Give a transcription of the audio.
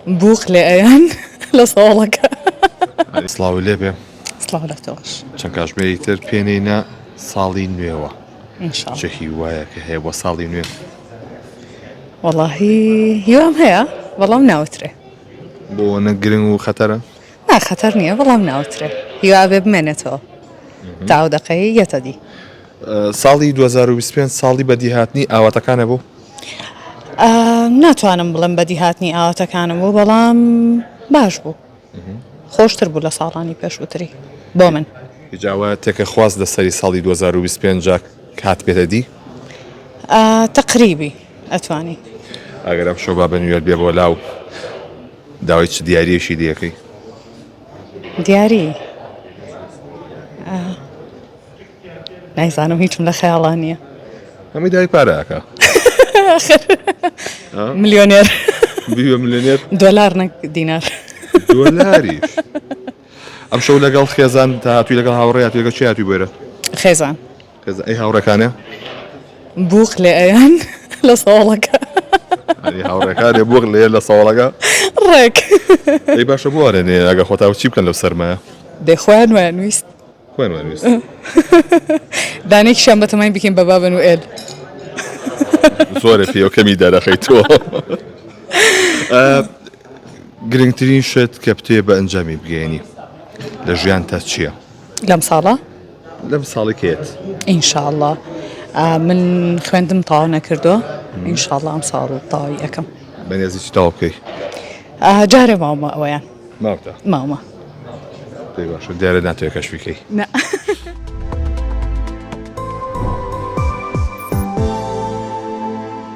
بووق لێ ئەیەن لە سۆڵەکە. سڵاوو لێ بێ سڵاو لە تۆش. چەند کاژمێری تر پێنێینە ساڵی نوێوە چ هیوایەکە هەیە بۆ ساڵی نوێ؟ وەڵاهی هیوام هەیە بەڵام ناوترێ. بۆ نە گرنگ و خەتەرە؟ نا خەتەر نییە بەڵام ناوترێ هیوا بێ بمێنێتەوە تاو دەقەی یەتەدی. ساڵی دوو هەزار و بیست و پێنج ساڵی بەدیهاتنی ئاواتەکانە بوو؟ ناتوانم بڵێم بەدیهاتنی ئاواتەکانم بوو بەڵام باش بوو خۆشتر بوو لە ساڵانی پێشووتری بۆ من جاوە تێکە خواست لە سەری ساڵی 2025 کات پێێتە دی تقریبی ئەتوانی ئەگەرم شۆبا بە نوێر بێ بۆ لاو داوای چ دیارەکی دیەکەی دیاری نایزانم هیچم لە خەیاڵا نییە ئەمەی داوای پارە ئەکا ملیۆنێر بیوە ملیۆنێر دۆلار نەک دینار دۆلاریش ئەم شەو لەگەڵ خێزان تا هاتووی لەگەڵ هاوڕێات لەگە چیاتی بێرە خێزان خێز ئەی هاوڕەکانە بووق لێ ئەیان لە ساڵەکە ئەی هاوڕێکانێ بووق لێ لە ساڵەکە ڕێک ئەی باشە بوارێنێ ئەگە خۆتاوە چی بکەن لەو سەرمایە دەخوایان ویست خۆیمان ویست. دانەیەکیشیان بەتەمای بکەین بە بابە نوئێل. زۆرە پێوکەمی دەرەخەی تۆ. گرنگترین شت کە بتوێ بە ئەنجامی بگەیەنی لە ژیانتا چییە؟ لەم ساڵە؟ لەم ساڵی کێت؟ ئینشاءاللە من خوێندم تاوا نەکردووە ئینشاءاللە ئەم ساڵ تاوی ئەەکەم. بەنێزی چ تاوا بکەی؟ جارێ ماومە ئەویان. مامتە مامە پێی باشە دیارە ناتوێ کەش بکەی نە